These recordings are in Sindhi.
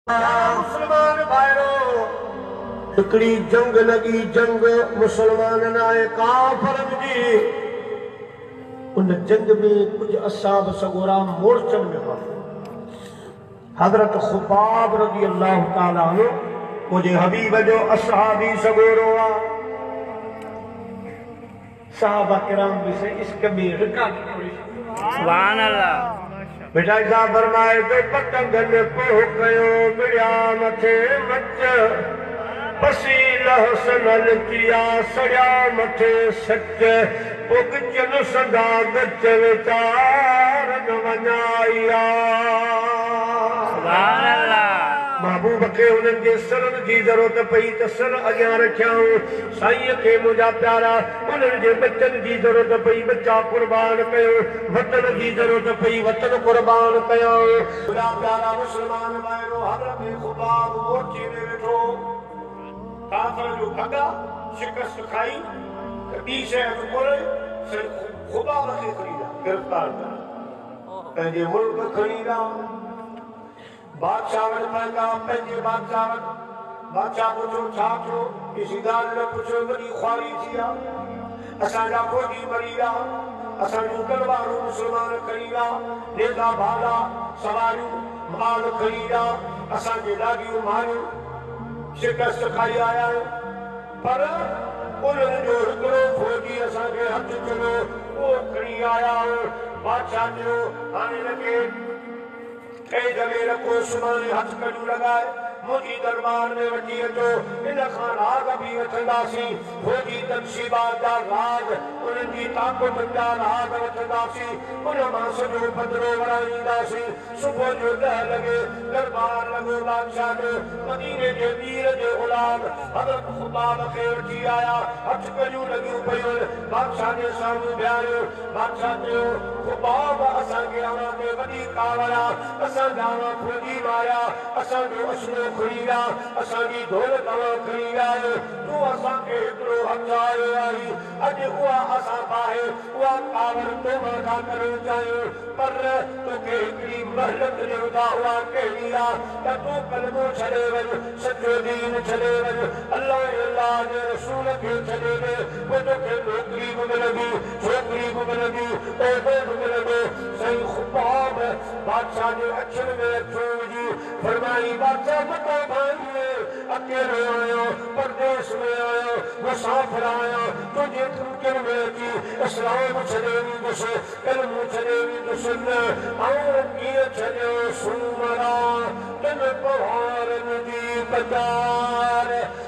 اي مسلمان ڀائرو! هڪڙي جنگ لڳي، جنگ مسلمانن ۽ ڪافرن جي. ان جنگ ۾ ڪجهه اصحاب سڳورا مورچن ۾ ڦاٿا. حضرت خباب رضي الله تعالٰي عنه منهنجي حبيب جو اصحابي سڳورو آ. صحابه ڪرام به سائين عشق ۾ رڪا ٽڪوڙي ڇڏيا. ڀٽائي صاحب فرمائي ته پتنگن پوء ڪيو مڙيا مٿي مچ پسي لهسن لتيا سڙيا مٿي سچ پوء ڳچن سندا ڳچ ويچار نه وڃايا. محبوب کي انهن جي سرن جي ضرورت پئي ته سر اڳيان رکيائون. سائينء کي منهنجا پيارا انهن جي ٻچن جي ضرورت پئي ٻچا قربان ڪيو وطن جي ضرورت پئي وطن قربان ڪيو. منهنجا پيارا مسلمان ڀائرو حضرت خباب مورچي ۾ ويٺو هو ڪافر جو ڀڳا شڪست کائي ته ٻي شيء هٿ ڪونهي سائين خباب کي کڻي ڏا گرفتار ڪري پنهنجي ملڪ کڻي ڏا. بادشاهه وٽ پهتا، پنهنجي بادشاهه وٽ. بادشاهه پڇيو، ڇا ٿيو؟ عزيدار هن پڇيو، وڏي خواري ٿي آ. اسان جا فوجي مري ويا. اسان جون تلوارون مسلمان کڻي ويا، نيزا ڀالا، سواريون، مال کڻي ويا، اسان جي ڏاڏيون ماريون. شڪست کائي آيا آهيون. پر انهن جو هڪڙو فوجي اسان کي هٿ چڙهيو، اهو کڻي آيا آهيون. بادشاهه چيو، هاڻي هن کي. اي جميل ڪو سڀاڻي هٿ ڪنيون لڳائي منهنجي درٻار ۾ وٺي اچو، ان کان راڳ به وٺنداسين، فوجي تنصيبات جا راڳ، انهن جي طاقتن جا راڳ وٺنداسين، ان مان سڄو پڌرو وراڻينداسين، صبح جو ڏهه لڳي درٻار لڳو بادشاهه جو، مديني جي مير جي اولاد حضرت خباب کي وٺي آيا، هٿ ڪنيون لڳيون پيون، بادشاهه جي سامهون بيهاريو، بادشاهه چيو، خباب، اسان کي اوهان تي وڏي ڪاوڙ آ، اسان جا اوهان ڦوڳي ماريا، اسان جو اسنو کڻي ويا، اسان جي دولت اوهان کڻي ويا آهيو، تون اسان کي هيترو همجهايو آهين، اڄ اها اسان باهه، اها ڪاوڙ تو مان ٿا ڪرڻ چاهيون، پر توکي هڪڙي مهلت ڏيون ٿا، اها ڪهڙي آ ته تون ڪلمو ڇڏي وڃ، سچو دين ڇڏي وڃ، الله ۽ الله جي رسول کي ڇڏي ڏي، پوء توکي نوڪري به ملندي. جيتري به ملندي، اوتري به ملندي. سائين خباب بادشاهه جي اکين ۾ اکيون وجهي فرمائي، بادشاهه متان ڀائيء، اڪيلو آهيان، پرديس ۾ آهيان، مسافر آهيان، تنهنجي ڪنڪين ۾ اچي اسلام ڇڏي ويندس، ڪلمو ڇڏي ويندس، نه آئون ڪيئن ڇڏيان سومرا، ڪن پوهارن جي قطار.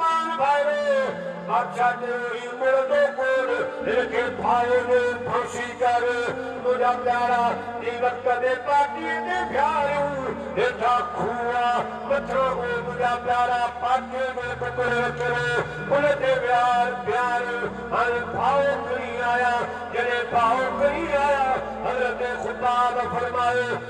مان ڀائرو بادشاهه چيو هي مڙندو ڪوڙ هن کي ڦاهي ڏي ڦاسي ڪر منهنجا پيارا جي وقت ۾ پاٽي تي ڦياريون هيٺان کوهه آ مٿان او منهنجا پيارا پاٽي جو ٽڪرو وڪرو ان تي ويهار ڦياري هاڻي ڀائو کڻي آيا جڏهن ڀائو کڻي آيا حضرت خباب فرمايو.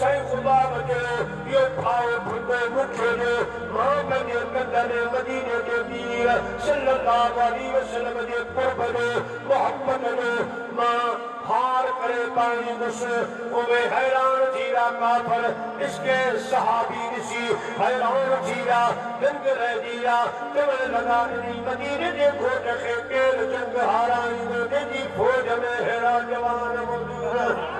سائين خباب جو اهو ڀائو ڀٽو مٺيرو مان پنهنجي ممبر مديني جي پير صلّي اللّٰه عليه وسلّم جي قرب جو، محبت جو مان هار ڪري پائيندس. اوهين حيران ٿي ويا ڪافر عشق صحابي ڏسي حيران ٿي ويا، دنگ رهجي ويا، چوڻ لڳا انهي مديني جي گهوٽ کي ڪير جنگ هارائيندو جنهن جي فوج ۾ ههڙا جوان موجود.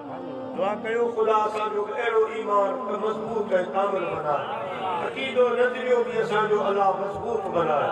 دعا ڪيو خدا اسان جو به اهڙو ايمان ته مضبوط ۽ ڪامل بنائي عقيدو نظريو به اسان جو الله مضبوط بنائي.